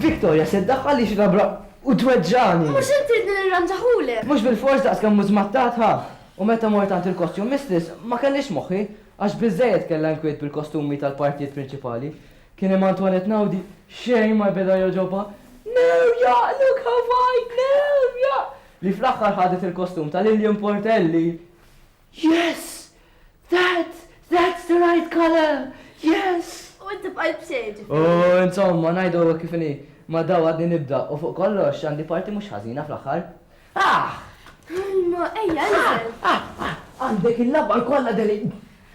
Victoria se ddaħħal li xilabra u tweġġani. Mux inti li nirranġaħulek. Mux bil-fors daqs kemm mużmattat ha. U meta mort għand il-kostjum mistress ma kellix moħħi. Għax biżżejjed kellha inkwiet bil-kostumi tal-partijiet prinċipali, kien hemm Antoinette Naudi xejn ma beda jogħġobha, Newja! Look how wide! Newja! li fl-aħħar ħadet il-kostum ta' Lillian Portelli. Yes! That! That's the right colour! Yes! U inti bqajt b'xejn, ġifieri. U insomma, ngħidu kif inhi, ma' dawl għadni nibda u fuq kollox għandi parti mhux ħażina fl-aħħar. Aħ! Mamma, ejja, inżel. Aħ, aħ, għandek il-laba l-kolla deli.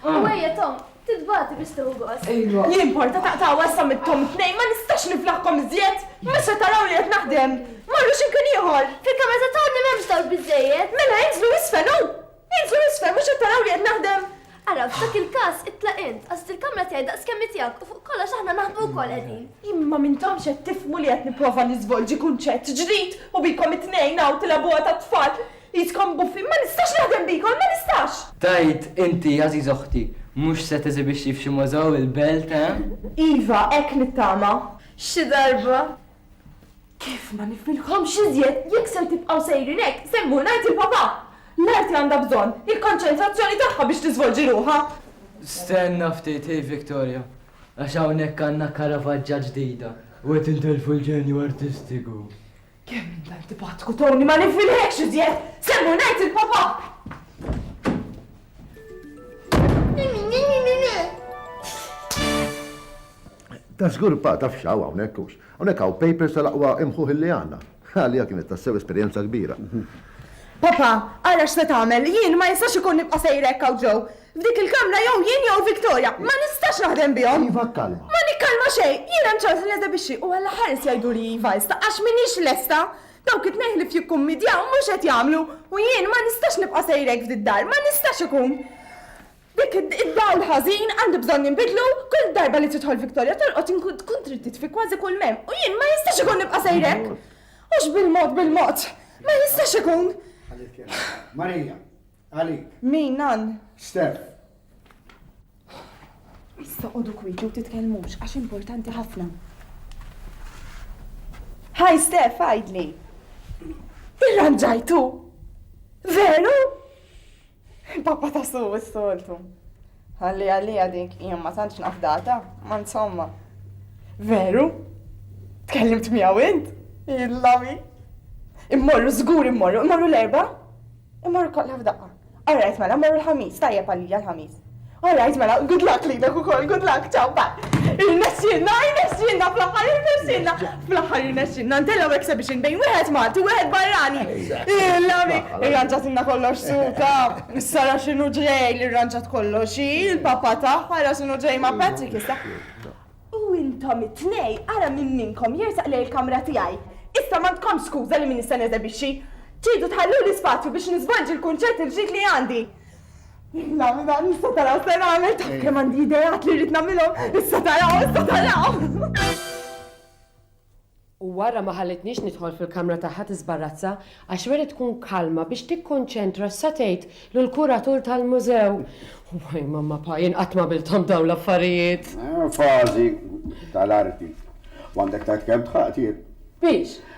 U ejja, Tom, titbati biex tuħu gost. Ejwa. Li importa taqtaw għassa mit-Tom tnejn, ma nistax niflaħkom iżjed. Mesa taraw li qed naħdem. Marru ximkien ieħor. Fil-kamra ta' Tom li m'hemmx dawk biżejjed. Mela inżlu isfel, u! Inżlu l-isfel, mhux qed taraw li qed naħdem? Ara, f'dak il-każ itlaq int, għażilt il-kamra tiegħi daqs kemm hi tiegħek u fuq kollox aħna naħdmu wkoll qegħdin. Imma m'intomx qed tifhmu li qed nipprova niżvolġi kunċett ġdid u bikom it-tnejn hawn tilgħabuha tat-tfal? Qiskom buffi, ma nistax naħdem bikom, ma nistax! Tgħid inti, għażiża oħti, mhux se teżibixxi f'xi mużew il-belt, eh? Iva, hekk nittama. Xi darba, Kif ma nifmilkomx iżjed jekk ser tibqgħu sejrin hekk, se mmur ngħid il-Papà! L-arti għandha bżonn il-konċentrazzjoni tagħha biex tiżvolġi ruħha! Stenna ftit, hi Victoria, għax hawnhekk għandna Caravaggja ġdida u qed intelfu l-ġenju artistiku. Kemm int antipatku, Tony, ma nifmilhekx iżjed! Se mmur ngħid il-Papà! Ta' żgur pa, taf x'hawn hawnhekk hux. Hawnhekk hawn papers tal-aqwa imħuħ illi għandna. Għalija kienet tassew esperjenza kbira. Papà, ara x'se tagħmel, jien ma jistax ikun nibqa' sejra hekk hawn ġew. F'dik il-kamra jew jien jew Victoria. Ma nistax naħdem bihom. Iva, kkalma. Ma nikkalma xejn. Jien hemm ċans li neżebixxi u alla ħares jgħiduli iva issa għax m'iniex lesta. Dawk it-tnejn li f'jikkummidjaw mhux qed jagħmlu u jien ma nistax nibqa' sejra hekk f'did-dar. Ma nistax ikun. Dik id-dawl ħażin għandu bżonn jinbidlu, kull darba li tidħol Victoria tolqot inkun tkun trid titfi kważi kull m'hemm u jien ma jistax ikun nibqa' sejr hekk! Hux bil-mod bil-mod! Ma jistax ikun! Ħalli tkellem. Marija, għalik. Min, Nan? Steph. Issa qogħdu kwieti u titkellmux għax importanti ħafna. Hi Steph, għidli. Irranġajtu? Veru? Pappa ta' su s-soltu. Għalli għalija dik, jien ma tantx nafdata, ma insomma. Veru? Tkellimt miegħu int? Illami. Immorru żgur immorru, immorru l-erba? Immorru kollha f'daqqa. All right mela, immorru l-ħamis, tajjeb għalija l-ħamis. All right mela, good luck lilek ukoll, good luck, ciao, bye. Irnexxielna, irnexxielna fl-aħħar irnexxielna. Fl-aħħar irnexxielna ntellgħu exhibition bejn wieħed Malti u wieħed barrani. Il-lami, irranġatilna kollox suta. Sara x'inhu ġej li rranġat kollox, il-papa tagħha ra x'inhu ġej ma' Patrick issa. U intom it-tnej ara minn minnkom jersaq lejn il-kamra tiegħi. Issa m'għandkom skuża li min nista' neżebixxi. Tridu tħallu l-ispazju biex niżvolġi l-kunċett il-ġdid li għandi. Nagħmel dan issa taraw se nagħmel taf kemm għandi ideat li rrid nagħmilhom, issa taraw, issa taraw. U wara ma ħallitniex nidħol fil-kamra tagħha tiżbarrazza għax wierid tkun kalma biex tikkonċentra sa tgħid lil kuratur tal-mużew. Waj mamma pa jien qatt ma bilthom dawn l-affarijiet. Eh, fażi tal-arti. Għandek tajt kemm tħaqtiet. Biex?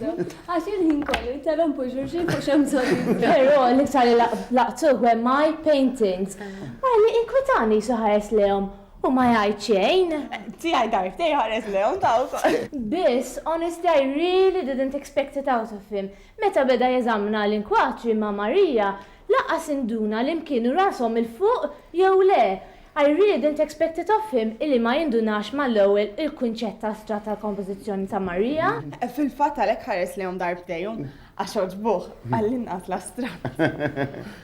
Għax il-ħin kollu jinterrompu xulxin fuq x'hemm bżonn. Però l-iktar li laqtuh hemm my paintings. Ara li inkwitani qisu ħares lejhom u ma jgħid xejn. Tiegħi darbtejn iħares lejhom ta' wkoll. Biss, honestly I really didn't expect it out of him. Meta beda jeżamna l-inkwatri ma' Maria, lanqas induna li mkienu rashom 'il fuq jew le. I really didn't expect it of him illi ma jindunax mal-ewwel il-kunċett astrat tal-kompożizzjoni ta' Maria. Fil-fatt għalhekk ħares lejhom darbtejn, għax għoġbuh, għall-inqas, l-astratt.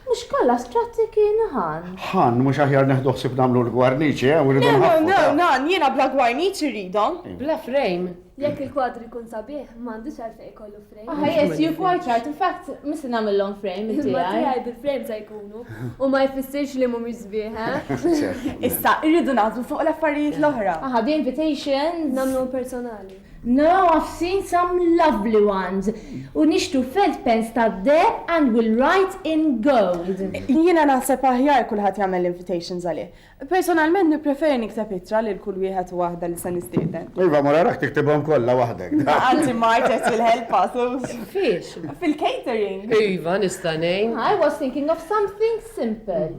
Mhux kollha astratti kienu ħann. Ħann, mhux aħjar neħdu ħsieb nagħmlu l-gwarniċi, eh, u rridu nħaffu. No, no, no, nan, jiena bla gwarniċi rridhom. Bla frame. Jekk il-kwadru jkun sabiħ, m'għandux għalfejn ikollu Aha, yes, you're quite right. In fact, missi namillom frame, inti Ma għaj. tiegħi bil-frame ta' jkunu. U ma jfissirx li mhumiex sbieħ, eh? Issa, irridu naħdmu fuq l-affarijiet l-oħra. Aha, the invitations. Namlu personali. No, I've seen some lovely ones. U nixtu felt pens ta' deb and will write in gold. Jiena naħseb aħjar kulħadd jagħmel l-invitations għalih. Personalment nippreferi nikteb ittra lil kull wieħed u waħda li se nistieden. Iva, mur araħ tiktibhom kollha waħdek. Anzi Mart qed fil-ħelpa, Sus. Fiex? Fil-catering. Iva, nista' ngħin. I was thinking of something simple.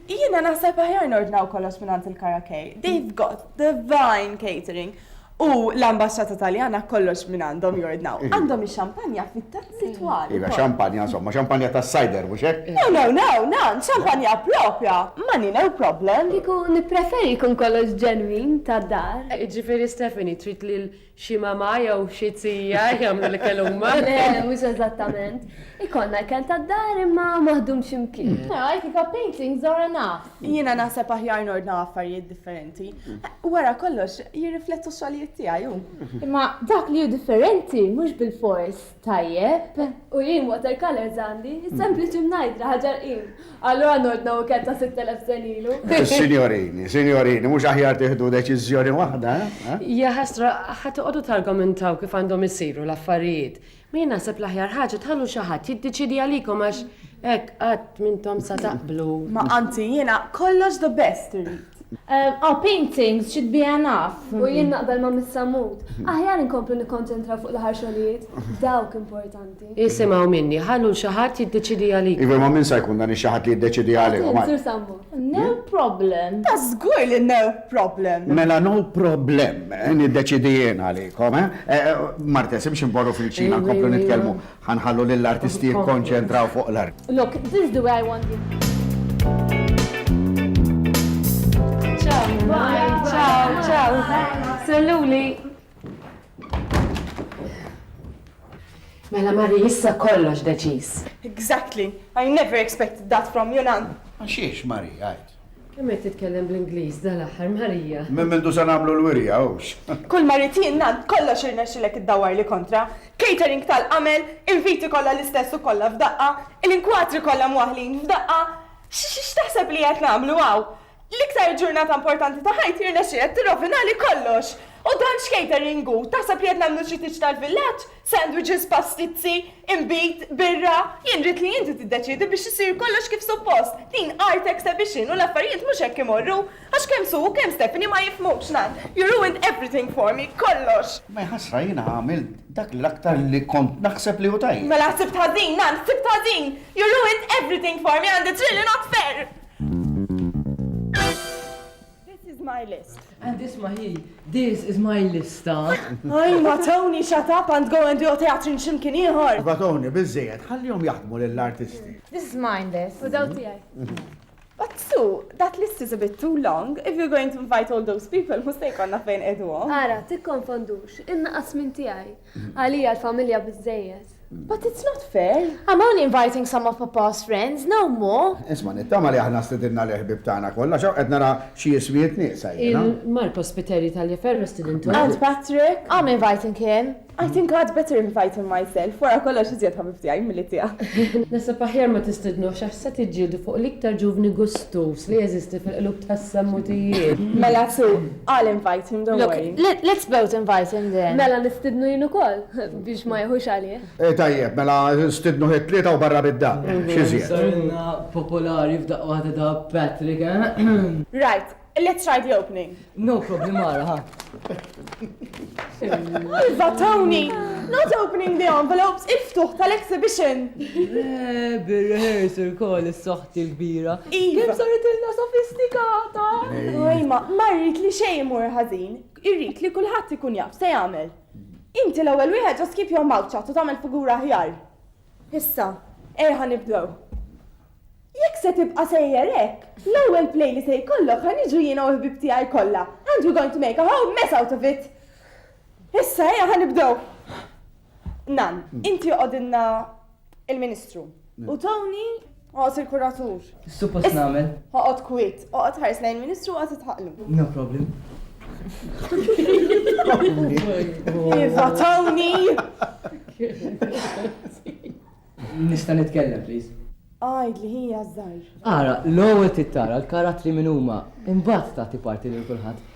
Jiena naħseb aħjar nordnaw kollox mingħand il-Kara K. They've got divine catering. U l-Ambaxxata Taljana kollox minn għandhom jordnaw. Għandhom ix-xampanja fit-tazzi twal. Iva, xampanja, insomma, xampanja tas-sajder, mhux hekk? No, no, no, no, xampanja proprja, money no problem. Kieku nippreferi jkun kollox ġenwin, tad-dar. Jiġifieri Stephanie trid lil xi mamà jew xi zija jagħmlu l-ikel huma? Le, mhux eżattament. Ikollna ikel tad-dar imma maħdum xi mkien. Mela, għalhekk il-cup paintings are enough. Jiena naħseb aħjar nordnaw affarijiet differenti. Wara kollox, jirriflettu x-xogħlijiet tiegħi hu. Imma dak li hu differenti mhux bilfors tajjeb. U jien watercolors għandi, sempliċi mingħajr bla ħaġa rqim. Allura nordna ikel ta' sitt elef sen ilu. Sinjorini, sinjorini, mhux aħjar tieħdu deċiżjoni waħda? Jaħasra, ħa toqogħdu targumentaw kif għandhom isiru l-affarijiet. Ma jien naħseb l-aħjar ħaġa tħallu xi ħadd jiddeċiedi għalikom għax hekk qatt m'intom sa taqblu. Ma anzi jiena kollox the best irrid. Aw paintings xi tbiegħ naf. U jien naqbel ma' Miss Sammut. Aħjar inkomplu nikkonċentraw fuq l-aħħar xogħlijiet. Dawk importanti. Isimgħu minni, ħallu l xi ħadd jiddeċiedi għalikom. Iva imma min sa jkun dan ix-xi ħadd li jiddeċiedi għalihom? Sur Sammut. No problem. Ta' żgur li no problem. Mela no problem, eh, niddeċidi jien għalikom, eh? eh Martes, imx imborru fil-ċina nkomplu nitkellmu, ħanħallu lill-artisti jikkonċentraw fuq l-art. Look, this is the way I want it. Ciao, ciao. Salluli, Mela Mari, issa kollox deċiż. Exactly. I never expected that from you, Nan. Għaxiex, Mari, għajt. Kemm qed titkellem bl-Ingliż dal-aħħar Marija? Minn mindu se nagħmlu l-wirja hux. Kull maritin nan kollox irnexxilek iddawar li kontra. Catering tal-qamel, inviti kollha l-istess u kollha f'daqqa, il-inkwatri kollha mwaħlin f'daqqa. X'taħseb li qed nagħmlu hawn? L-iktar ġurnata importanti ta' ħajti rnexxielek tirrovinali kollox! U dan x'catering hu? Taħseb li qed nagħmlu xi tieġ tal-villaġġ? Sandwiches, pastizzi, inbid, birra? Jien rrid li inti tiddeċiedi biex isir kollox kif suppost! Din art exhibition u l-affarijiet mhux hekk imorru! Għax kemm Sue u kemm Stephanie ma jifhmu x'ngħid! You ruined everything for me, kollox! Maj ħasra jiena għamilt dak l-aktar li kont naħseb li hu tajjeb! Mela ħsibt ħażin, Nan, ħsibt ħażin! You ruined everything for me and it's really not fair! This is my list. And this my he. This is my lista. Ay, ma Tony, shut up and go and do a teatrin ximkien ieħor. Ma Tony, biżejjed, ħallihom jaħdmu lill-artisti. This is my list. U daw tiegħi. But Sue, that list is a bit too long. If you're going to invite all those people, mhux se jkollna fejn qegħduhom. Ara, tikkonfondux, innaqas minn tiegħi. Għalija l-familja biżżejjed. But it's not fair. I'm only inviting some of Papa's friends, no more. Isma' nittama li aħna stidinna l-ħbieb tagħna kollha għax hawn qed nara xi jiswijiet nieqsa jiena. Il-Mark Ospiteri Taliaferro stidintuh? Aunt Patrick? I'm inviting him. I think I'd better invite him myself, wara kollox iżjed ħabib tiegħi milli tiegħek. Naħseb aħjar ma tistidnux għax se tiġġieldu fuq l-iktar ġuvni gustuż li jeżisti fil-qlub tas-sammutijiet. Mela sew, I'll invite him, don't worry. Look, let's both invite him then. Mela nistidnu jien ukoll biex ma jieħux għalih. Eh tajjeb, mela nstidnuh it-tlieta u barra bid-dar. X'iżjed? Sarilna popolari f'daqqa waħda ta' Patrick, eh? Right, let's try the opening. No problem, ara, ha. Iva, Tony! Not opening the envelopes, il-ftuħ tal-exhibition! Le, bir-rehearsal call is-soħ il-kbira. Kif saritilna sofistikata! Oj ma, ma rrid li xejn imur ħażin. Irrid li kulħadd ikun jaf se jagħmel. Inti l-ewwel wieħed just keep your mouth shut u tagħmel figura aħjar. Issa, erħa nibdew. Jekk se tibqa' sejjer hekk, l-ewwel play li se jkollok ħa niġu jiena u l-ħbieb tiegħi kollha and we're going to make a whole mess out of it! Issa, erħa nibdew. Nan, inti oqgħodilna Il-Ministru. U Tony għos il-kuratur. Suppost nagħmel. Ħoqgħod kwit, oqgħod ħares lejn il-Ministru għad titħaqlu. No problem. Iva Tony! Nista' nitkellem, please. Għajd li hija żgħir. Ara, l-ewwel tittara l-karattri minn huma, imbagħad tagħti parti lil kulħadd.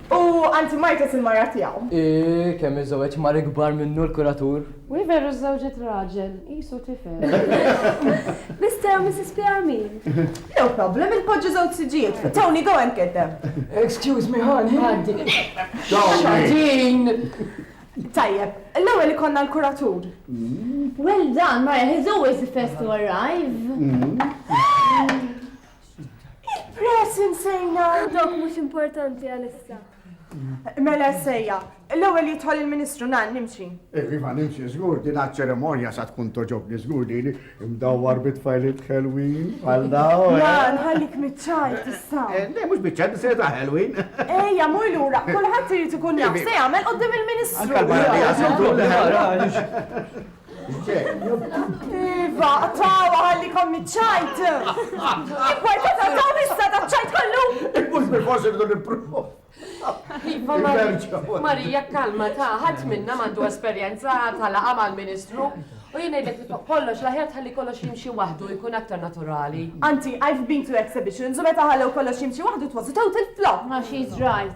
U anti martet il-mara tiegħu. Ih, kemm iżżewweġ mar ikbar minnu l-kuratur. Wi veru żżewġet raġel, qisu tifel. Mister u Mrs. Piar min? No problem, inpoġġu żewġ siġġijiet. Tony, go and get them. Excuse me, honey. Għaddi. Xatin! Tajjeb, l-ewwel ikonna l-kuratur. Well done, Mara, he's always the first to arrive. Il-press insejna għandok mhux importanti għalissa. Mela sejja, l-ewwel jidħol il-Ministru nan nimxi. Iva nimxi żgur din ċeremonja sa tkun toġobni żgur li imdawwar bit-tfajlit Halloween għal daw. Ja, eh? nħallik miċċaj tista'. Eh, le mhux biċċaj se ta' Halloween. Ejja mur lura, kulħadd irid ikun jaf se jagħmel qudiem il-Ministru. Iva, tawa għalli kommi ċajt! Importa ta' taw issa ta' ċajt kollu! Mux bil forsi rridu nipruvu. Iva, Marija, kalma ta' ħat minna mandu esperienza ta' laqa mal-ministru. U jina jidek li kollox, laħjar tħalli kollox jimxi wahdu, jkun aktar naturali. Anti, I've been to exhibitions, u meta ħallew kollox jimxi wahdu, it was a total flop. Ma she's right,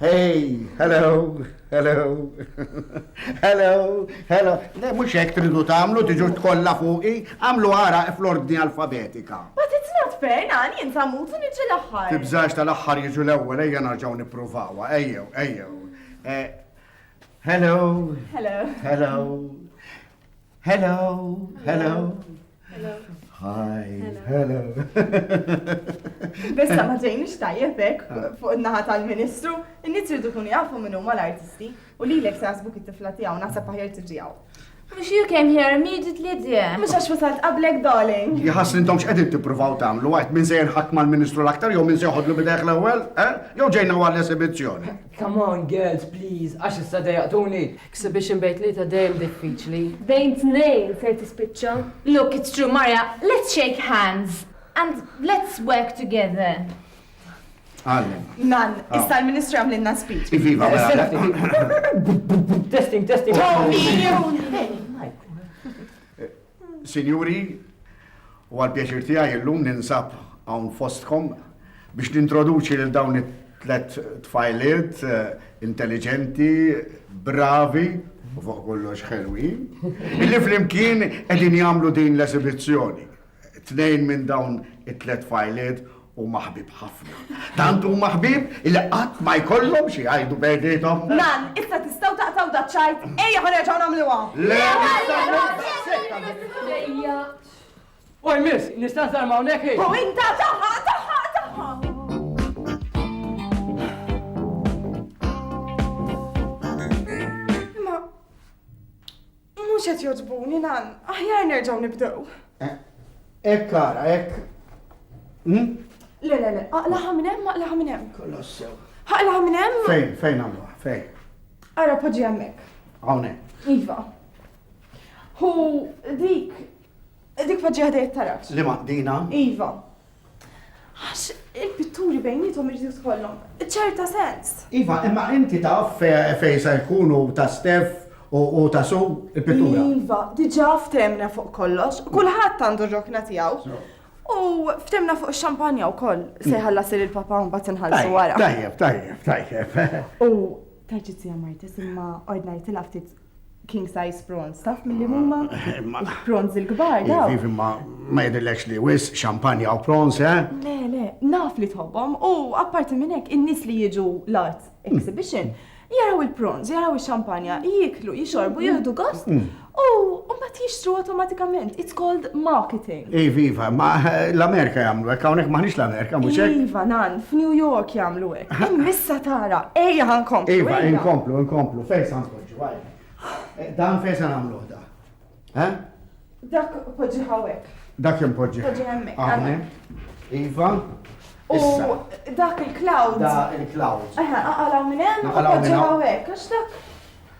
Hey, hello, hello, hello, hello. Le, mux hekk tridu tagħmlu tiġu tkollha fuqi, għamlu għara fl-ordni alfabetika. But it's not fair, nani, inta mutu niġi l-aħħar. Tibżax tal-aħħar jiġu l-ewwel, ejja narġgħu nippruvawa, ejjew, ejjew. Eh, hello. Hello. Hello. Hello. Hello. Hello. Hi. Hello. Bessa ma ġejnix tajjeb hekk ah. fuq in-naħa tal-Ministru, in-nies ridu kun jafu minn huma l-artisti u li lek sasbu it-tifla tiegħu naħseb aħjar tiġi hawn. Mux you came here immediately, dear. Mux għax wasalt qablek, darling. Jħas li ntomx edin tipruvaw tamlu, għajt minn sejn ħak mal-ministru l-aktar, jow minn sejħodlu bideħ l-ewel, eh? jow ġejna għal l-esibizzjoni. Come on girls please għax issa dejjaqtuni. Ikseb biex inbejn tlieta dejjem diffiċli. Bejn tnejn ser tispiċċa. Look it's true Marja, let's shake hands and let's work together. Għallem. Nan, ah. issa l-Ministru għamlinna speech. Iviva, mela. Testing, testing. Sinjuri, huwa l-pjaċir tiegħi illum ninsab hawn fostkom biex nintroduċi lil dawn it-tliet tfajliet intelliġenti, bravi, u fuq kollox ħelwin, li flimkien qegħdin jagħmlu din l-esibizzjoni. Tnejn minn dawn it-tliet tfajliet Huma ħbib ħafna. Tant huma ħbib li qatt ma jkollhom xi jgħidu bejniethom. Nan, issa tistgħu taqtaw da ċajt, ejja ħa nerġgħu nagħmluha. Le, ejja. Oj miss, nista' nżarma hawnhekk ejja. U inta taħħa, taħħa, taħħa. Mhux qed jogħġbuni nan, aħjar nerġgħu nibdew. Hekk eh, ara, hekk. Hmm? Le, le, le, aqlaħa minn hemm, aqlaħa minn hemm. Kollox sew. Aqlaħa minn hemm? Fejn, fejn għamluha, fejn. Ara poġġi hemmhekk. Hawnhekk. Iva. Hu dik dik poġġi ħdejt tarak. Li maqdina? Iva. Għax il-pitturi bejniethom irid jidħollhom ċerta sens. Iva, imma inti taf fejn se jkunu ta' stef u ta' su il-pittura. Iva, diġà ftemna fuq kollox, kulħadd għandu r-rokna tiegħu. U ftemna fuq ix-xampanja wkoll se jħallas il papa mbagħad inħallsu wara. Tajjeb, tajjeb, tajjeb. U taġi tija Martis imma ordnajtilha ftit king size prawns, taf mill-li huma? Prawns il-kbar, daw. Vivi ma ma jidillex li wis, xampanja u prawns, eh? Le, le, naf li tħobbhom u apparti minn hekk in-nies li jiġu l-art exhibition jaraw il-prawns, jaraw ix-xampanja, jiklu, jixorbu, jieħdu gost mm. u mbagħad jixtru automatikament. It's called marketing. Ej, viva, ma l-Amerika jagħmlu hekk hawnhekk maħniex l-Amerika mhux hekk. Iva, nan, f'New York jagħmlu hekk. Missa tara, ejja ħankomplu. Iva, inkomplu, inkomplu, fejn Poġġu għajk. Eh, dan fejn se nagħmluh da? Eh? Dak poġġi hawnhekk. Dak hemm poġġi. Poġġi hemmhekk. Iva. U dak il-cloud. Da il-cloud. Eħe, aqala minn hemm u poġġi hawnhekk għax dak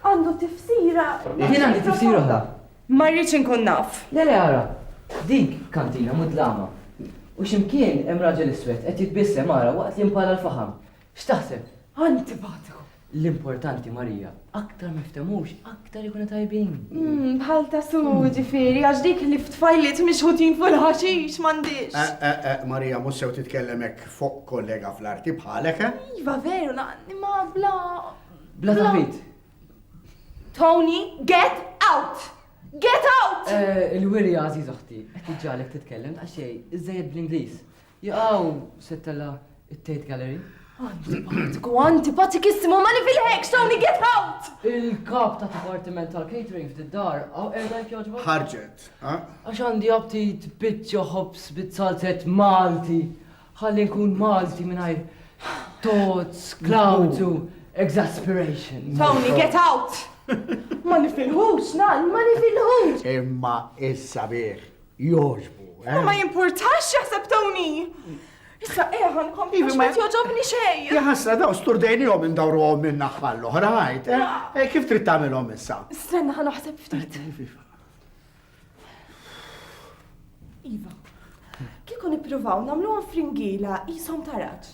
għandu tifsira. Jien għandi tifsira oħra. Ma rridx inkun naf. Le le ara. Dik kantina mudlama. U ximkien hemm raġel iswed qed jitbissem ara waqt li mpara l-faħam. X'taħseb? Antipatiku. L-importanti Marija, aktar ma ftemux, aktar ikunu tajbin. Hmm, bħal ta' su hmm. ġifiri, għax dik li ftfajlit mixħutin fuq il-ħaxix m'għandix. Eh, eh, eh, Marija, mhux sew titkellemek fuq kollega fl-arti bħalek, eh? Iva veru, ma bla. Bla taħbit. Tony, get out! Get out! Il-wirja għażiż oħti, qed tiġġalek titkellem ta' xejn, iżejjed bl-Ingliż. Jaqaw settella it-Tate Gallery. Antipatiku, antipatikissimu, ma li fil-hekk, Tony, get out! Il-kap ta' dipartiment tal-catering f'did-dar, għaw erda jkjoġba? Ħarġet, ha? Għax għandi aptit bitċa ħobs bit-salzet Malti, ħalli nkun Malti minnajr tots, klawzu, exasperation. Tony, get out! Ma nifilħux, nal, ma nifilħux! Imma issa bieħ, jogħġbu. Eh? Ma jimpurtax jaħseb Tony! Issa eħan eh, kompli ma joġobni xej. Jaħasra daw sturdejni jom indawru għom minn naħħal l-oħra ħajt. Eh? eh, kif trid tagħmilhom issa? Stenna ħan uħseb ftit. Iva, kieku nippruvaw nagħmluhom fringila jisom taraġ.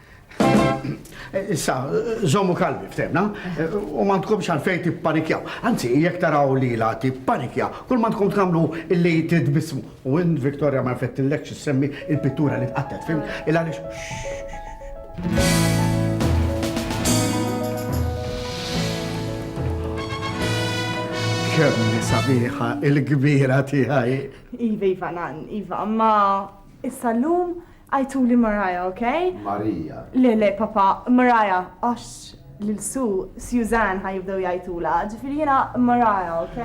Issa, żommu kalmi ftemna, u ma tkomx għalfejn tippanikjaw. Anzi, jekk taraw li la tippanikja, kull ma tkun tagħmlu illi titbismu. U in Victoria ma jfettillek x'issemmi il-pittura li tqattet, fim? Il għaliex. Kemm sabiħa il-kbira tiegħi. Iva, Iva, nan, Iva, ma issa llum Għajtuli Mariah, ok? Marija. Le, le, papà, Mariah, għax lil Sue, Suzanne ħa jibdew jgħajtulha, ġifieri jiena Mariah, ok?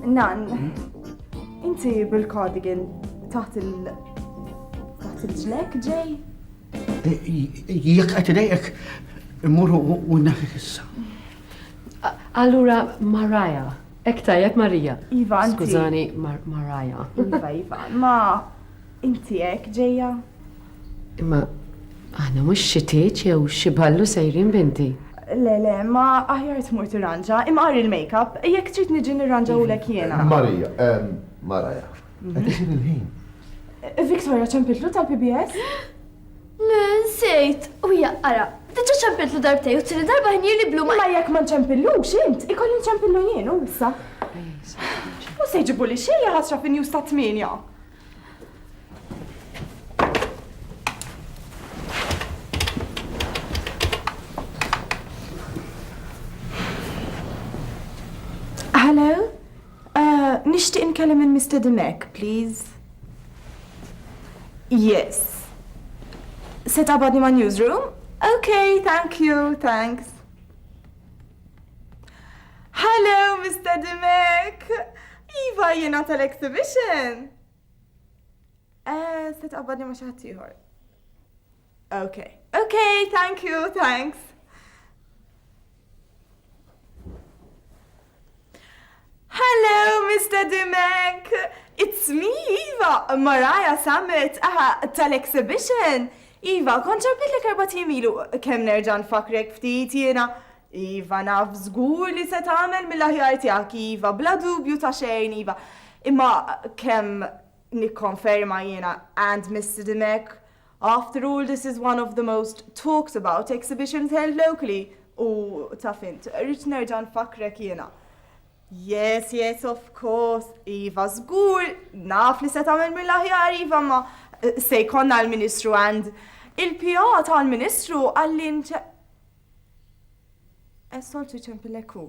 Nann, inti bil-cardigan taħt il. taħt il-ġlek ġej? Jekk qed idejqek, immur u nnefik issa. Allura Mariah, Ek tajjeb Marija. Iva, anzi. Skużani, Marija. Iva, Iva. Ma inti ek ġeja? Imma aħna mhux xi tieġ jew xi ballu sejrin binti. Le, le, ma aħjar tmur tirranġa, imma qari l-makeup, jekk trid niġi nirranġa u lek jiena. Marija, Marija. Qed isir il-ħin. Victoria ċempiltlu tal-PBS? Le, nsejt! U jaqqara'. Diġà ċempiltlu darbtejn u t-tieni darba ħin jirli blu ma. Imma jekk ma nċempillux int, ikolli nċempillu jien hu issa. Mhux se jġibuli xejn li ħasra fin-news tat-tmienja. Hello? Nixtieq nkellem lill-mistedinek, please. Yes. Se tqabbadni man-newsroom? Ok, thank you, thanks. Hello, mistedinek! Iva, jiena tal-exhibition! Eh, se tqabbadni ma' xi ħaddieħor. Ok. Ok, thank you, thanks. Hello, Mr. Dimek! It's me, Iva, Mariah Summit, aha, tal-exhibition. Iva, kontra bitlek erba timilu, kem nerġan fakrek ftit jena. Iva, naf zgur li se tagħmel mill-aħjar tiegħek, Iva, bla dubju ta' xejn, Iva. Imma kem nikkonferma jiena and Mr. Dimek After all this is one of the most talked about exhibitions held locally u taf int, rrid nerġa' nfakkrek jiena. Yes, yes, of course, iva żgur, naf li se tagħmel mill-aħjar iva ma eh, se jkollna l-Ministru and il-PA tal-Ministru għallin ċe. Essoltu ċempilekku.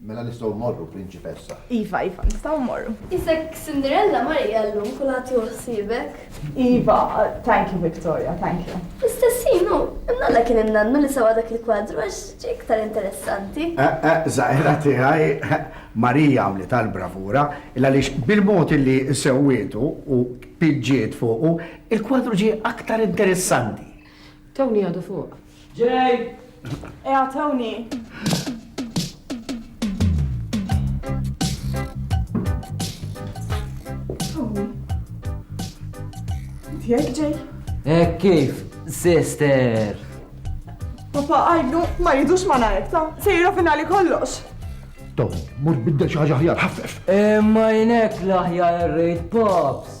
Mela nistgħu mmorru, Prinċipessa. Iva, iva, nistgħu mmorru. Isek Cinderella Marija llum kulħadd jieħu ħsiebek. Iva, thank you Victoria, thank you. Istessin hu, imnalla kien innannu li sewa dak il-kwadru għax ġie iktar interessanti. Eh, eh, Zaħira tiegħi Marija għamlet għal bravura il għaliex bil-mod li sewwietu u piġġiet fuqu, il-kwadru ġie aktar interessanti. Tawni għadu fuq. Ġej! Eqgħod hawnhekk. Jek ġej? Ek kif, sister? Papa għajdu, ma jidux ma najk ta' sejra finali kollox. Tom, mur biddel xaħġa ħjar, ħaffef. Imma eh, jinek laħjar rejt pops.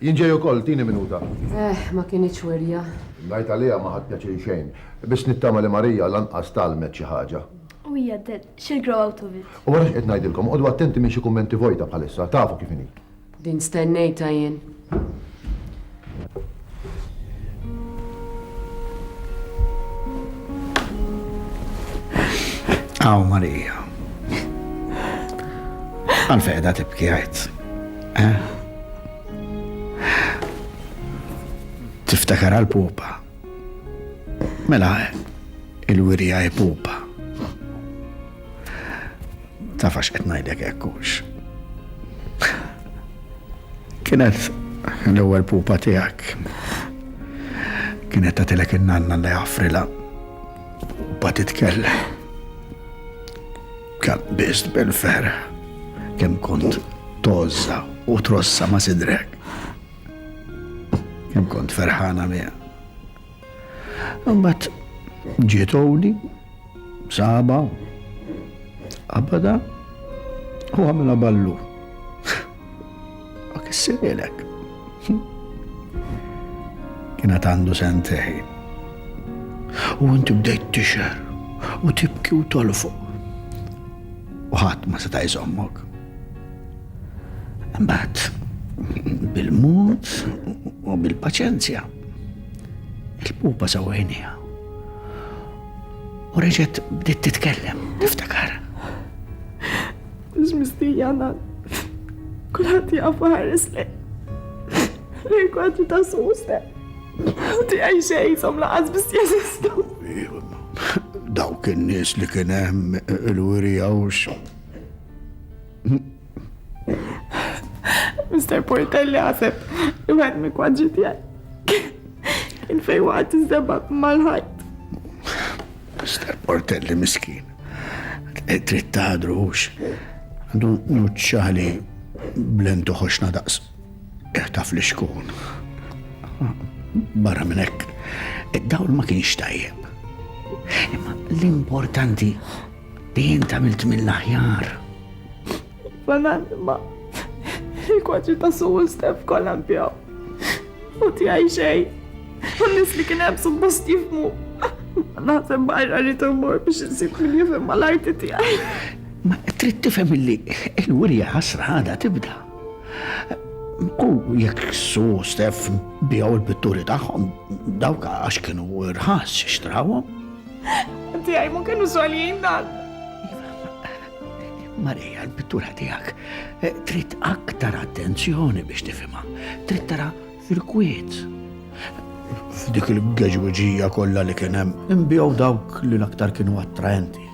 Jien ġej ukoll, tini minuta. Ehh, ma kinitx wirja. Ngħid għaliha ma ħadt pjaċir xejn. Biss nittama li Marija lanqas tgħallmet xi ħaġa. U hija għaddiet, she'll grow out of it. U ara x'qed ngħidilkom, oqogħdu attenti minn xi kummenti vojta bħalissa, tafu kif inhi. Din stennejtha jien. Hawn Marija. Għalfejn qiegħda tibki għidt? Tiftakar għal pupa. Mela, il-wirja e pupa. Tafax qed ngħidlek ekkux. Kienet l-ewwel pupa tiegħek. Kienet tagħtilek in-nanna li għafrila. Pupa titkellem. Kabbist bil-ferħ kemm kont tozza u trossa ma' sidrek. Kemm kont ferħana miegħek. Mbagħad ġiet Oli, saba, qabada u għamilha ballu. U kissililek. Kienet għandu sentej. U inti bdejt tixer u tibki u tolfu. U ħadd ma seta' jżommok. Mbagħad bil-mod u bil-paċenzja il-pupa sawħinija. U reġet bdiet titkellem, niftakar. Mhux mistija ngħad. Kulħadd jaf ħares lejn. Lejn kwadri ta' suse. U tiegħi xejn som laqas biss jeżistu. Dawk in-nies li kien hemm il-wirija u Mr. Portelli għaseb, jgħed mi kwadġi tijaj. Kien fej waqt iżdebab mal-ħajt. Mister Portelli miskin. Trid taħdru hux. Għandu nuċċali blentu ħoxna daqs. Eħtaf li xkun. Barra minn hekk, id-dawl ma kienx tajjeb. Imma l-importanti li jien tamilt mill-aħjar. L-ananima, il-kwadri ta' Su u Stef kollha nbjaw. U tiegħi xejn. U nis li kien hemm suppost jifmu. Naħseb barra li tumur biex insib min jifhem mal-arti tiegħi. Ma trid tifhem illi il-wirja ħasra għadha tibda. U jekk su stef bijaw il-pitturi tagħhom dawk għax kienu rħas xtrawhom. Tiegħi ma kienu soljin dan. Marija, l-pittura tiegħek eh, trid aktar attenzjoni biex tifhimha, trid tara fil-kwiet. F'dik il-geġwiġija kollha li kien hemm imbjew dawk li l-aktar kienu attraenti.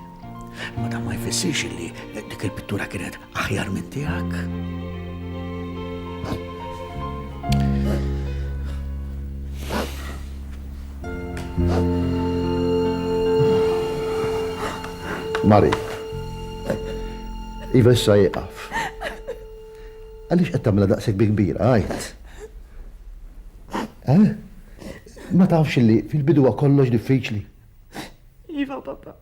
Ma dan ma jfissirx li dik il-pittura kienet aħjar minn tiegħek. Mari. Iva issa jieqaf. Għaliex qed tagħmilha daqshekk bi kbira, għajt. Eh? Ma tafx li fil-bidu kollox diffiċli. Iva, papa.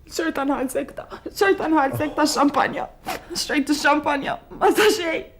Xorta nħal sekta, xorta nħal sekta xampanja. Xrajtu xampanja, ma sa xejn.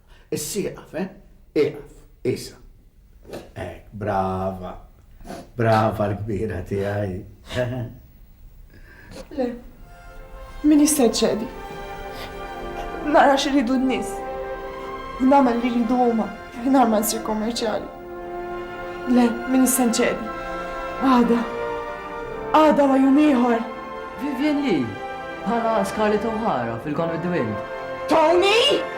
Is-sieqaf, eh? Ieqaf, qisha. Hekk, brava. Brava l-kbira tiegħi. Le, min jista' jċedi? Nara xi rridu n-nies. Nagħmel li rridu huma, mingħajr ma nsir kommerċjali. Le, min issa nċedi. Għada. Għada wa jum ieħor. Vivian Lee, bħala Scarlett O'Hara fil-Gone with the Wind. Tony!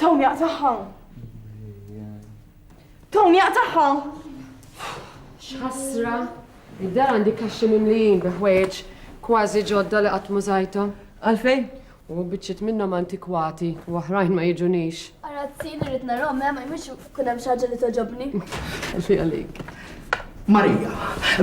Tom jaqtaħħa. Tom jaqtaħħa. X'ħasra. Id-dar għandi kaxxi mimlijin bi ħwejġ kważi ġodda li qatt mużajthom. Għalfejn? U biċċiet minnhom antikwati u oħrajn ma jigħġunix. Arazzin irrid narahom hemm, ma jmilx ikun hemm xi ħaġa li togħġobni. Ħalli għalik. Marija,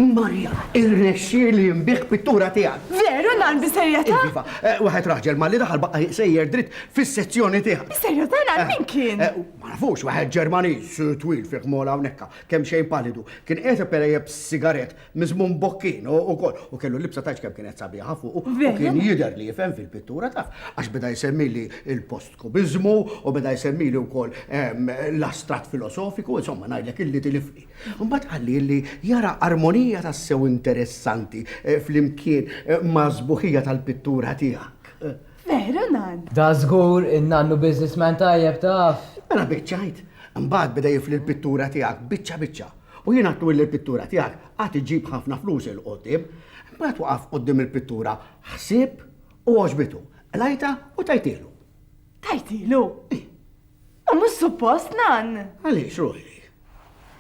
Marija, irnexxieli nbigħ pittura tiegħek. Veru nan bis-serjetà? Iva, eh, waħed raġel malli daħal baqa' sejjer dritt fis-sezzjoni tiegħek. Bis-serjetà nan eh, min kien? Eh, ma nafux waħed Ġermaniż twil fih mola hawnhekk, kemm xejn palidu. Kien qed perejjeb sigarett Mizmun Bokkin u ukoll u kellu libsa tajx kemm kienet sabiħa fuq u kien jidher li jifhem fil-pittura taf għax beda jsemmili il-post kubizmu u beda jsemmili wkoll ehm, l-astrat filosofiku, insomma ngħidlek illi tilifni. Mbagħad qalli li jara armonija tassew interessanti eh, flimkien eh, ma' żbuħija tal-pittura tiegħek. Veru nan. Da żgur in-nannu businessman tajjeb taf. Mela biċċajt, mbagħad beda jifli l-pittura tiegħek biċċa biċċa. U jien għidtlu illi l-pittura tiegħek għad iġġib ħafna flus 'il quddiem. Imbagħad waqaf quddiem il-pittura ħsieb u għoġbitu. Qlajtha u tajtielu. Tajtielu? Ih. U mhux suppost, Nann! Għaliex, ruħi?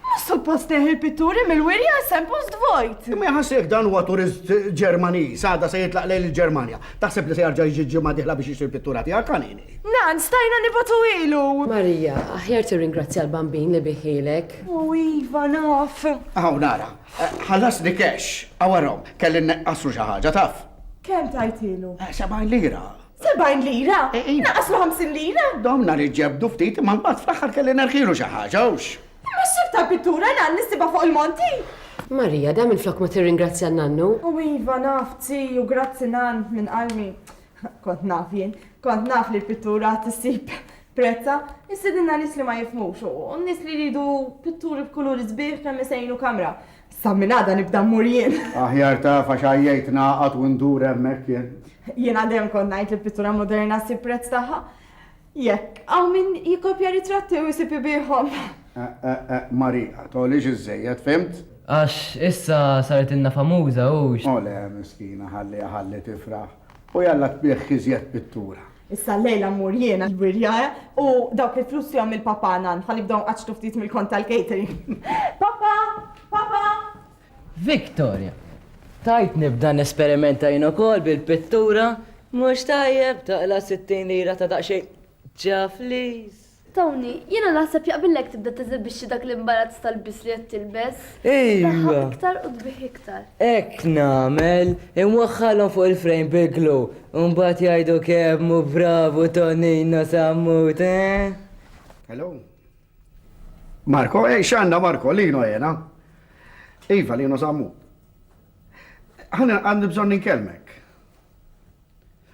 Mhux suppost neħi l-pitturi mill-wirja għax se npost vojt. Imma jaħas jekk dan huwa turist Ġermaniż, għada se jitlaq lejn il-Ġermanja. Taħseb li se jarġa' jiġi ġimgħa diħla biex jixtri l-pittura tiegħek, kanini? Nan, stajna nibgħatu ilu! Marija, aħjar tirringrazzja l-Bambin li bih ilek. O iva, naf! Hawn ara, ħallasni cash. Hawn arahom, kelli nneqqaslu xi ħaġa, taf. Kemm tajtilu? Sebgħin lira. Sebgħin lira? Naqqaslu ħamsin lira? Domna ridt ġebdu ftit imma mbagħad fl-aħħar kelli nerħielu xi ħaġa, hux? Imma x'tip ta' pittura, Nan, li ssibha fuq il-monti? Marija, da minflok ma tirringrazzja n-nannu? O iva, naf, Ziju, grazzi, Nan, minn qalbi. Kont naf jien, kont naf li l-pittura għad issib prezza, jissidinna nis li ma jifmux u nis li jridu pitturi b'kuluri zbieħ kemm isejnu kamra. Sa minn għada nibda mmur jien. Aħjar ta' fax għajjajt naqat u ndur hemmhekk jien. Jiena dejjem kont ngħid li pittura moderna ssib prezz tagħha. Jekk hawn min jikkopja ritratti u jsib ibiegħhom. Eh, eh, eh, Marija, togħlix iżżejjed, fhimt? Għax issa saritilna famuża, hux? O le, miskina, ħalliha ħalli tifraħ. U jalla tbiegħ iżjed pittura. Issa llejla mmur jiena l-wirjaja u dawk il-flus fihom il-papa nan, ħalli jibdew nqaċċtu ftit mill-kont tal-catering. Papa! Papa! Victoria, Tgħid nibda nesperimenta jien ukoll bil-pittura? Mhux tajjeb taqla' sittin lira ta' daqsxejn ċafliż? Tony, Jiena naħseb jaqbillek tibda teżibixxi dak l-imbarazz tal-lbies li qed tilbes. Tdaħħaq iktar u tbigħ iktar. Hekk nagħmel, inwaħħalhom fuq il-frame bil-glu u mbagħad jgħidu kemm hu bravu Tonino Sammut, eh? Hello? Marco, ej x'għandna Marco, Lino jena. Iva, Lino zammu. Ħana għandi bżonn ninkellmek.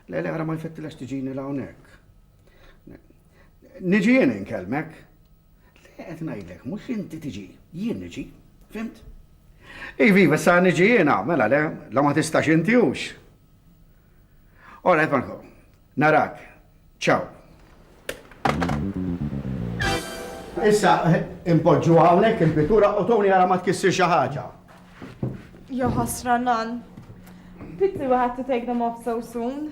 Le, le, għara ma jfettilax tiġini la hawnhekk. Niġi jien inkellmek. Le, qed ngħidlek, mhux inti tiġi, jien niġi, fimt? Iva, iva, sa niġi jiena, mela le, la ma tistax inti hux. Ora, qed Narak. Ciao. Issa impoġġuha hawnhekk il-pittura u toni ara ma tkissir xi ħaġa. Jo ħasra nan. Pity we had to take them off so soon.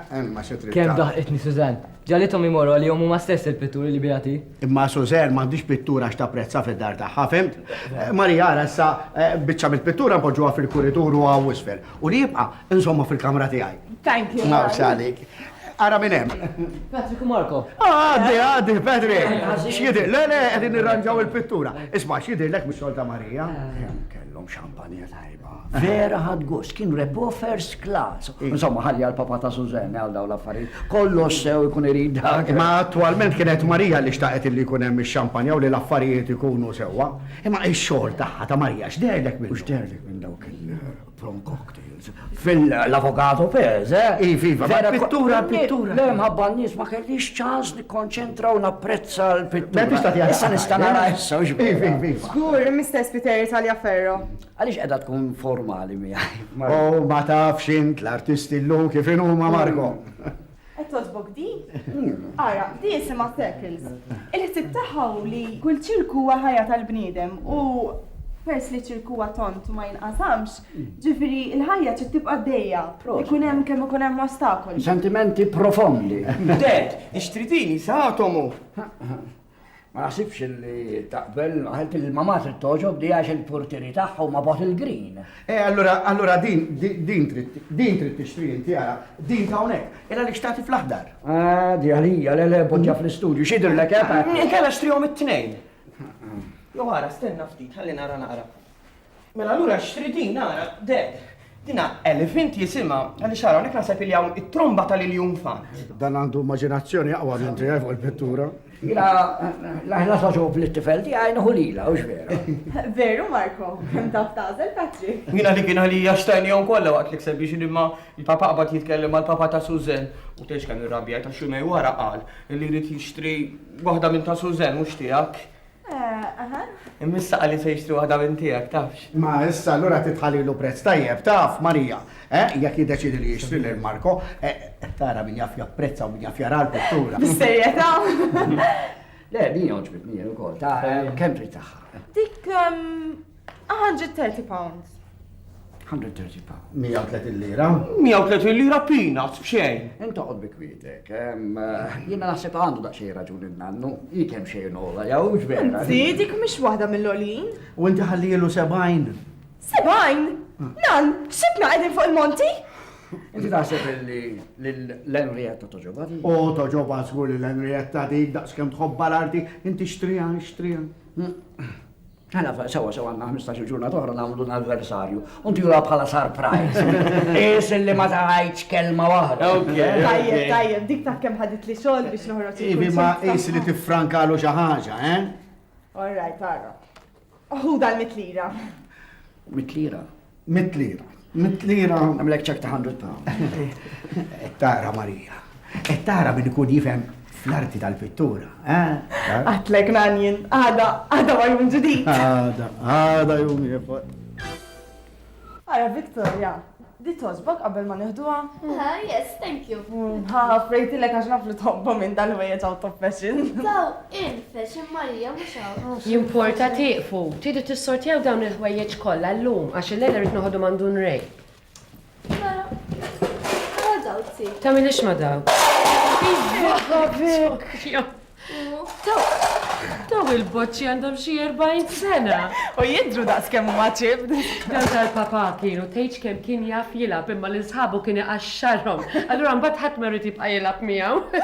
Emma xi trid. Kemm daħqitni Suzanne. Ġalithom imorru għalihom huma stess il-pitturi li bijati. Imma Suzanne m'għandhiex pittura x'tapprezza fid-dar tagħha, fhimt? Maria, ara issa eh, biċċa mill-pittura npoġġuha fil-kuritur u hawn isfel. U li jibqa' insomma fil-kamra tiegħi. Thank you. Nafx għalik. Ara minn hemm. Patrick u Marco. Ah, għaddi, għaddi, Patrick. X'jidir, le, le, qegħdin nirranġaw il-pittura. Isma' x'jidirlek mis-solta Marija. Hemm kellhom xampanja tajba. Vera ħadt gost, kien repo first class. Insomma, ħalli għal papa ta' Sużenne għal dawn l-affarijiet. Kollox sew ikun irid dak. Imma attwalment kienet Marija li xtaqet li jkun hemm ix-xampanja u li l-affarijiet ikunu sewwa. Imma x-xogħol tagħha, ta' Marija, x'deherlek minnu? U x'deherlek minn dawk il-prom cocktails? Fil-Avocato Pez, eh? Iv, iva, ma' pittura, pittura. Le, mħabba n-nies ma kellix ċans nikkonċentra u napprezza l-pittura. Issa nista' nara issa, iva, iva. Żgur, Mr. Spiteri tal-Jaferro. Għaliex qiegħda tkun formali miegħi? Oh, ma tafx int l-artisti llum kif inhuma Marco. Qed togħġbok di? Ara, di jisimha circles. Il-ħsieb tagħha hu li kull ċirku huwa ħajja tal-bniedem u pers li ċirku huwa tont ma jinqasamx, ġifieri l-ħajja trid tibqa' dejja. Ikun hemm kemm ikun hemm ostakoli. Sentimenti profondi. Dad, ixtridini sa atomu. Ma naħsibx li taqbel, għalt li ma matri toġob di għax il-portieri tagħha ma bot il-green. E, allura, allura din, din trid, din trid tixtri inti għara, din ta' hawnhekk, illa li xtati fl-aħdar. Ah, di għalija, le le poġġa fl-istudju, xidr lek hemm. Eh? Kella xtrihom it-tnejn. Jo għara, stenna ftit, ħalli nara naqra. Mela allura xtri din ara, Dad. Dina elephant jisimha għaliex ara hawnhekk naħseb li hawn it-tromba tal-iljun fan. Dan għandu immaġinazzjoni aqwa minn tiegħi fuq il-pittura. Jina, laħna soġob li t-tifel ti għajna hulila, u vera. Veru, Marko, kem taf tazel, Patri. Jina li kien għalija xtajni għon kolla waqt li kseb biex imma il-papa għabat jitkellem għal papa ta' Suzen. U teċ kan il-rabja ta' xumej wara għal li rrit jishtri waħda minn ta' Suzen, mux tijak. Imma issa qali se jixtri waħda minn tiegħek, tafx? Ma issa allura titħalilu prezz tajjeb, taf, Marija, eh, jekk jiddeċidi li jixtri lil Marko, eh, tara min jaf japprezza u min jaf jara l-pittura. Bissejjeta. Le, din joġbitni ukoll, ta' kemm trid tagħha. Dik ehm, 130 pounds. 130 pa. 130 lira? 130 lira peanuts b'xejn. Inta qod bi kwietek. Jiena naħseb għandu daqsxejn raġun innannu. Hi kemm xejn ola, jew ġvera. Zidik mhix waħda mill-olin. U inti ħallielu 70. 70? Nan, xibna qegħdin fuq il-monti? Inti taħseb li l-Henrietta toġoba di? O, toġoba żgur li l-Henrietta di, daqskemm tħobba l-arti, inti xtrijan, xtrijan. Mela, sewa, sewa, għanna 15 ġurnat oħra namlu l-anniversarju. Unti jura bħala surprise. Is li ma taħajċ kelma waħda. Tajjeb, tajjeb, dik ta' kem ħadit li sol biex noħroġ. Ivi ma is li tifrankalu xi ħaġa, eh? All right, ara. Hu dal-mitlira. Mitlira? Mit lira. Mit lira. Għamlek ċek ta' 100 pound. Tara Marija. Et tara min ikun jifhem fl-arti tal-pittura. Għatlek nanjen, għada, għada ma jum ġdid. Għada, għada jum jifot. Għara Victoria, di tosbok qabel ma neħduha? Ah, yes, thank you. Ha, frejti l-ek għax naflu tobba minn dal-wejja ġaw top fashion. Infex, hemm Marija, mhux hawn. Jimporta tieqfu? Tridu tissortjaw dawn il-ħwejjeġ kollha llum għax illejla rrid noħodhom għand Dun Ray. Mela, ma daw ti. Tagħmilix ma daw. Daw il-boċċi għandhom xi 40 sena. U jidru daqs kemm huma ċib. Dan tal-papa kienu tgħidx kemm kien jaf jilgħab imma lil sħabu kien iqaxxarhom. Allura mbagħad ħadd ma jrid jibqa' jilgħab miegħu.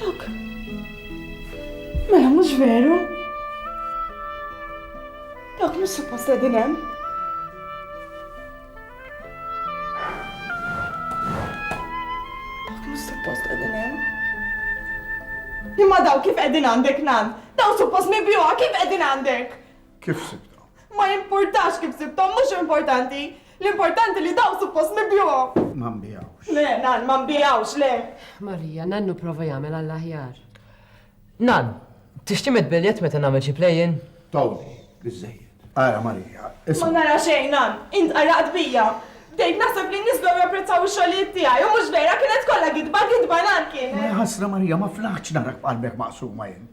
Dak. Mela mhux veru. Dak mhux suppost qegħdin hemm. Imma daw kif qegħdin għandek nan? Daw suppost nibjuha kif qegħdin għandek? Kif sibta? Ma jimpurtax kif sibta, mhux importanti. L-importanti li daw suppost nibjuhom. Ma nbijawx. Le, nan, ma nbijawx, le. Marija, nannu prova jagħmel għall-aħjar. Nan, tixti met biljet meta nagħmel xi play-in? Tawni, biżejjed. Ara Marija, Ma nara xejn, nan, int qaraqt bija. Bdejt naħseb li n-nies bdew japprezzaw ix-xogħlijiet tiegħi u mhux vera kienet kollha gidba, gidba nan kienet. Ħasra Marija, ma flaħtx narak b'qalbek maqsuma jien.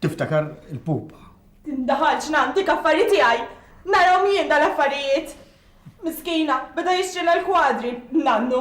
Tiftakar il-pupa. Tindaħal x'nantik affari tiegħi! Narahom jien dal-affarijiet! Miskina, beda jixtrilha l-kwadri, nannu.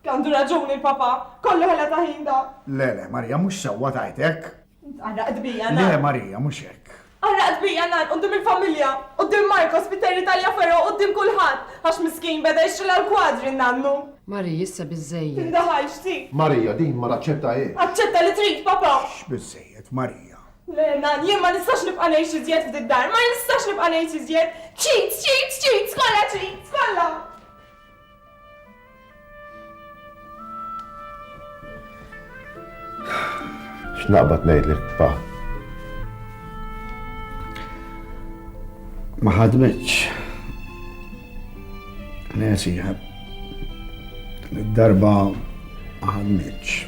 Għandu raġun il-papà, kollu ħela ta' ħin da. Le, le, Marija, mhux sewwa tgħid hekk. Int qarraqt bija, nan. Le, Marija, mhux hekk. Qarraqt bija, nan, quddiem il-familja, quddiem Marcos, Peter, Italja Ferro, quddiem kulħadd, għax miskin beda jixtrilha l-kwadri, nannu. Marie, Issa biżżejjed. Inda ħajxti! Maria, Din ma naċċettahiex! Aċċetta li trid, papà! X'x biżżejjed, Maria? Le, Nan, jien ma nistax nibqa' ngħix iżjed f'did-dar, ma nistax nibqa' ngħix iżjed! Ċid, ċid, ċid, skolla ċid, skolla! X'naqbad ngħidlek pa. Ma ħadmitx. Nesi, darba ma ħadmitx.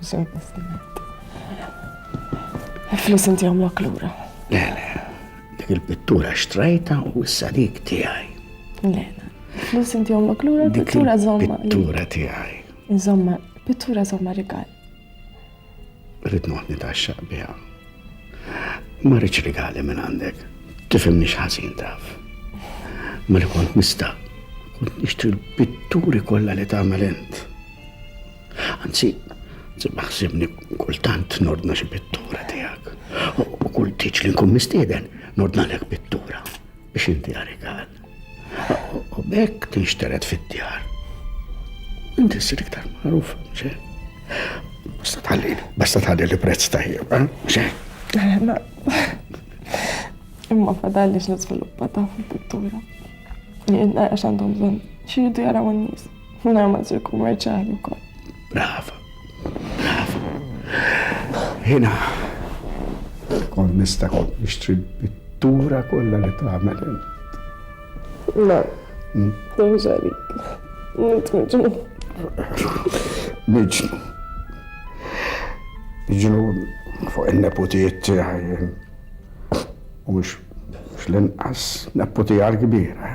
Sur President. Flus inti għamlok lura. Le, le, dik il-pittura xtrajta u issa dik tiegħi. Le, flus inti għamlok lura, pittura zomma. Pittura tiegħi. Zomma, pittura zomma rigal. Rrit noħni ta' xaqbija. Ma rridx rigali minn għandek. Tifimni xħazin taf. Ma li kont nista' kont nixtri l-pitturi kollha li tagħmel int. Anzi, Sibba ħsibni kultant nordna xi pittura tiegħek. U kull tiġ li nkun mistieden nordna lek pittura biex inti għarigal. U bekk tinxteret fid-djar. Inti ssir iktar magħruf, xe. Basta tħalli, basta tħalli li prezz tajjeb, eh? xe. Imma fadalli x'niżviluppa ta' fil-pittura. Jien għax għandhom bżonn xi jaraw n-nies. Mela ma tkun kummerċjali wkoll. Brava. Brava. Hina. Kont nista' kont nixtri pittura kollha li tagħmel int. Ma. Mhux għalik. Int miġnu. Miġnu. Miġnu fuq il-neputijiet tiegħi. U mhux l-inqas neputija l-kbira.